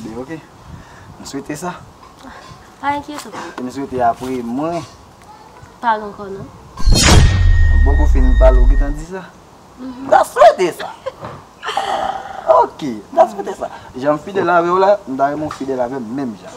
Be ok, m swete sa. Pa enkyete w. E m swete apre mwen. Pa gen ankò non. M poko fini pale ou gentan di sa. M ta swete sa. Ok, m ta swete sa. Jan m fidèl avè w la, m ta renmen w fidèl avè m menm jan.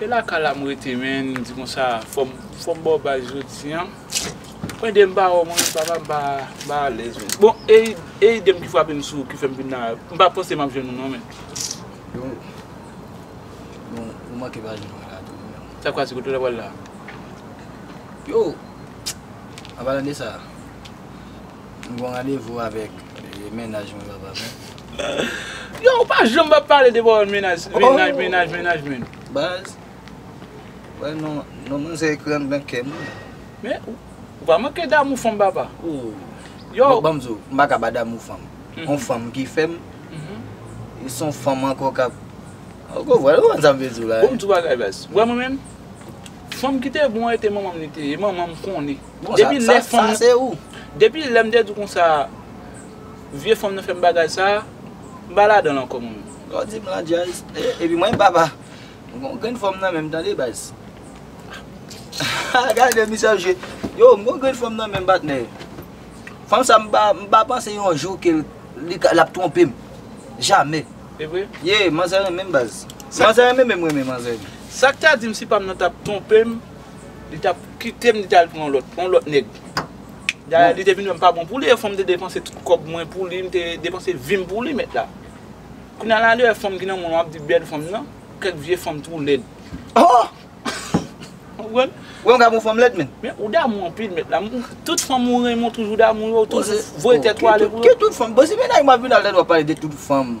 E la kay la m rete menn di konsa fòm baw bay jodi an mwen dem pa wè w mwen menm papa m pa alèz menn bon e ide m ki frape m sou ki fè m vin la m pa panse m ap jwenn ou non menn sa kwa se kote w ta pral la. M gon randevou avèk mennaj mwen papa men. Yow ou pa janm pa pale de bawon mennaj mennaj mennaj mennaj menn. Baz wè non non manzè ekran nan kèm wi. Men ou pa manke damou fanm papa. Yow. Banm di w m pa ka ba damou fanm. On fanm ki fèm e son fanm ankò kap ou konprann ou konprann sa m vle di w la. Bon m di w bagay baz. Wè mwen menm fanm ki te bon an e te manman m li te ye. E manman m konnen. Bon sa sa se ou. Depi lèm te di w konsa vye fanm nan fè m bagay sa, m pa ladan l ankò mwen menm. Lè w di m lan djaz, epi mwen pa pa. M gon grenn fanm nan menm tande baz. Gade misye ap jwe. Yo m gon grenn fanm nan menm patnè. Fanm sa m pa panse yon jou ke l ap twonpe m. Jamè. E vre? Ye manzè renmen m baz. Manzè renmen menm renmen manzè. Sa k ta di m si pa m nan t ap twonpe m? Li tap kitem li tal pran yon lòt, yon lòt nèg. Dayè li te vin wèm pa bon pou li e fòm te depanse tout kòb mwen pou li, m te depanse vim pou li mèt la. Kounya la li wè fanm ki nan mwen an wap di bèl fanm nan, kèk vye fanm twou lèd. Ou konprann? Wè yon gabon fanm lèd menn. Men ou damou anpil mèt la. Tout fanm ou renmen ou toujou damou yo, ou toujou voye tèt ou ale pou yo. Ki tout fanm? Bon si mennaj mwen ap vin al lèd wap pale de tout fanm.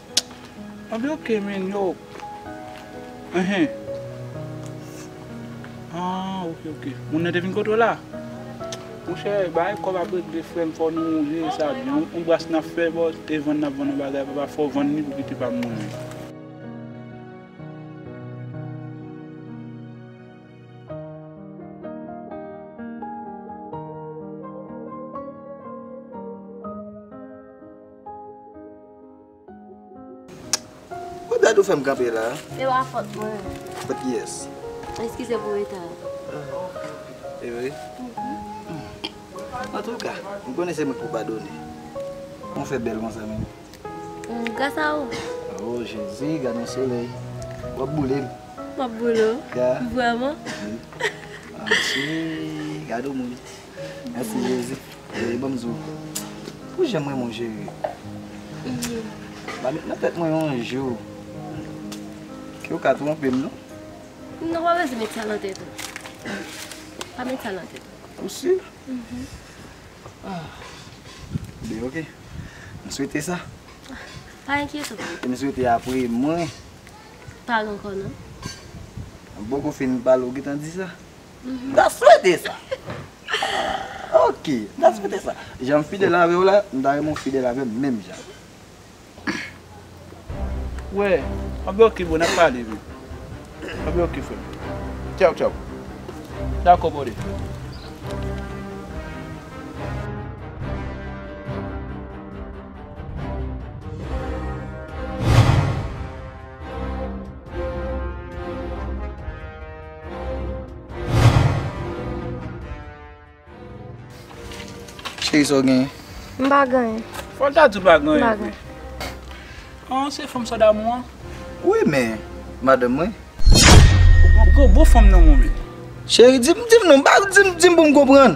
Anpil ok men yo Ehe Aah ok ok Moun nan te vin kote w la Monchè bagay kòb ap regle frèm fò nou jere sa byen wi on bras nap fè bò e vann nap vann on bagay papa fò vann li pou kite pa mouri. Ou dat ou fèm kanpe la. Se pa fòt mwen. Fòt kiyès? Eskize pou reta an. E vre? Antouka, m konnen se mwen pou padone. Ou fè bèl konsa menm. Gras a ou. O Jezi, gad yon solèy. W ap boule m. M ap boule w? Vrèman? Wi. Gad yon moun. Merci Jésus. Chérie banm di w pou jan m renmen w chérie. Pa met nan tèt mwen yon jou ke w ka twonpe m non. Non pa bezwen met sa nan tèt ou. Pa met sa nan tèt ou. Ou sur? Byen ok. M swete sa. Pa enkyete w. E m swete apre mwen. Pa gen kò non. Bon kou fin pale w gentan di sa. M ta swete sa. Ok, m ta swete sa. Jan m fidèl avè w la, m ta renmen w fidèl avè m menm jan. Wè, anben ok bro, n ap pale vre. Anben ok frè m. Tchaw tchaw. Dakò brother. Cheri sa w genyen? M pa genyen. Fò l ta di w pa genyen. M pa genyen. An se fanm sa damou an? Wi men, madanm mwen. Ou gen yon gwo fanm nan menw menm. Cheri di m non, di m pou m konprann.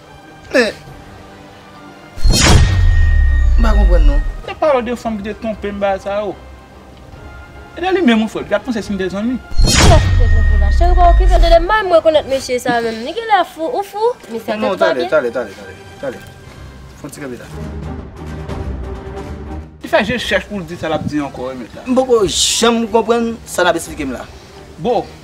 Men. M pa konprann non. Nap pale de fanm ki te twonpem bagay sa yo. E de li menm ou fè l, li tap panse si nou te zanmi. Kiyès ki te twonpe w la? Cheri pa okipe l de li menm m rekonèt mesye sa menm. Li genlè fou, ou fou? Mesye a tèt pa byen. Tale, tale, tale, tale. Fon ti kanpe la. Li fè je chèch pou l di sa lap di ankò remet la. M poko janm konprann sa nap esplike m la. Boo,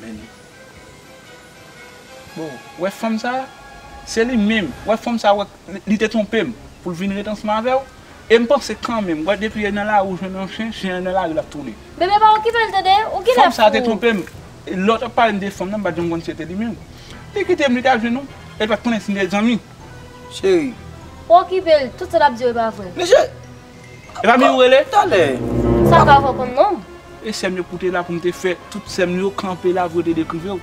Men Bon wè fanm sa se li menm wè fanm sa wè li te twonpem poul vin ret ansanm avèw em panse kanmenm wè depi e nan lari ou jwenn yon chen chen an nan lari lap tounen. Bebe pa okipel tande ou gen lè fou. Fanm sa te twonpem lè tap palem de fanm nan mpat janm konn si se te li menm li kitem li tal jwenn yon el pat konnen si nou te zanmi cheri. Ou okipel tout sa lap diw epa vre. Mesye! E pa mi ou rele? Talè. Sa pa vò konn nonm? E sèm yo pou te la pou m te fè tout sèm yo kanpe la pou yo te dekrive w.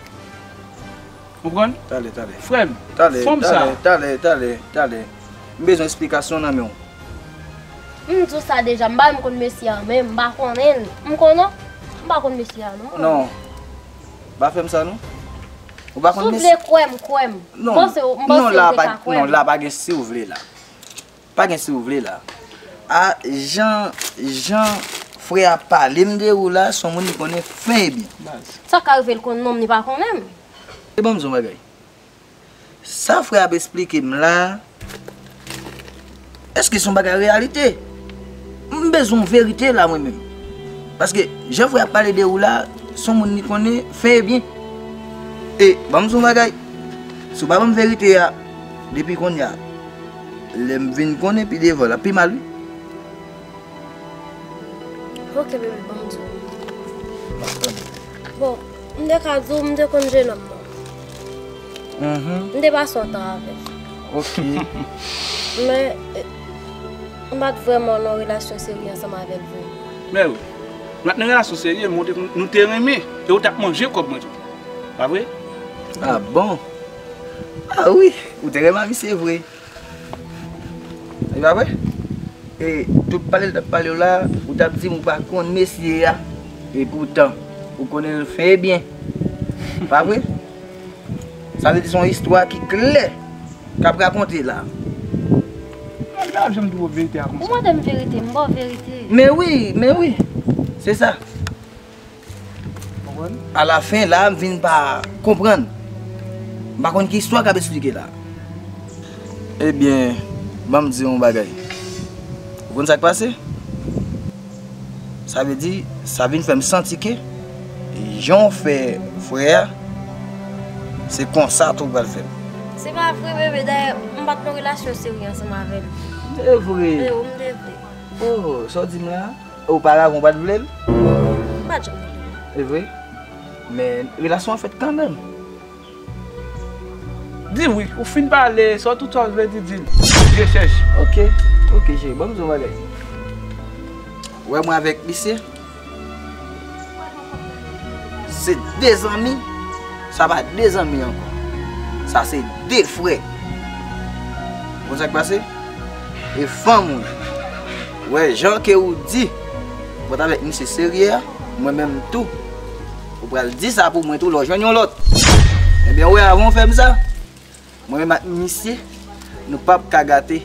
Konprann? Talè, talè. Frèm, fanm sa. Talè, talè, talè, talè. M bezwen esplikasyon nan men w. M di w sa deja, m pa menm konn mesye an menm, m pa konnen l. M konn an? M pa konn mesye a non. Non. Pa fè m sa non. Ou pa konn mesye. Si w vle kwè m, kwè m. M panse w, m panse w te ka kwè m. Non, la pa gen si w vle la. Pa gen si ou vle la. Ah jan jan frè a pale m de ou la son moun li konnen fen e byen baz. Sa ka rive l konn non m li pa konnen m. E ban m di w yon bagay. Sa frè ap esplike m la eske son bagay reyalite? M bezwen w verite la mwen menm. Paske jan frè a pale de ou la son moun li konnen fen e byen. E ban m di w yon bagay. Si w pa ban m verite a depi kounye a. Lèm vin konnen pi devan lap pi mal wi. Ok bebe banm diw. Map tann ou. Bon m te ka diw m te konn jenòm nan. M te pase yon tan avèl. Ok. Men m pat vrèman nan yon relasyon serye ansanm avèl vre. Mèw m pat nan relasyon serye men nou te renmen e ou tap manje kòb mwen tou. Pa vre? Ah bon. Ah wi, ou te renmen misye vre. E pa vre? E tout pale li tap pale w la, ou tap di m ou pa konn mesye a, e poutan ou konnen l fe byen. E pa vre? Sa vle di se yon istwa ki klè kap rakonte la. Mwen pap janm di w verite a konsa. Ou mande m verite, m ba w verite. Men wi, men wi, se sa. Konprann? A la fen la a m vin pa konprann. M pa konn ki istwa k ap esplike la a. Ebyen, ban m di w yon bagay. Ou konn sa k pase? Sa vle di, sa vin fè m santi ke jan w fè frè a, se konsa tou w pral fè l. Se pa vre bebe, dayè m pa t nan relasyon serye ansanm avè l. E vre! E o m te vre. O, sa w di m la a? Oparavan ou pat vle l? M pat janm vle l. Se vre? Men relasyon an fèt kanmenm. Di wi, ou fin pale, sa w tout sa w vle di, di l. Zye chèch. Ok, ok cheri, ban m di w yon bagay. Ou wè mwen avèk misye? Se de zanmi, sa pa de zanmi ankò. Sa se de frè. Ou konn sa k pase? E fanm ou. Wè jan ke ou di Mwen ta vek misye serye a Mwen menm tou Ou pral di sa pou mwen tou lè ou jwenn yon lòt Ebyen ou wè avan ou fè m sa Mwen menm ak misye Nou pap ka gate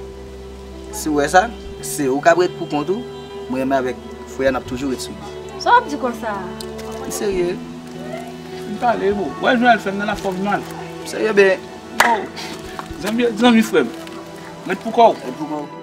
Si ou wè sa Se ou k ap ret pou kont ou Mwen menm avèk Frè a n ap toujou ret soud Sa w ap di konsa a M serye M pale boo Wè jan l fè m nan la fòm nan M serye byen Zanmi zanmi frè m Ret pou kò w Ret pou kò w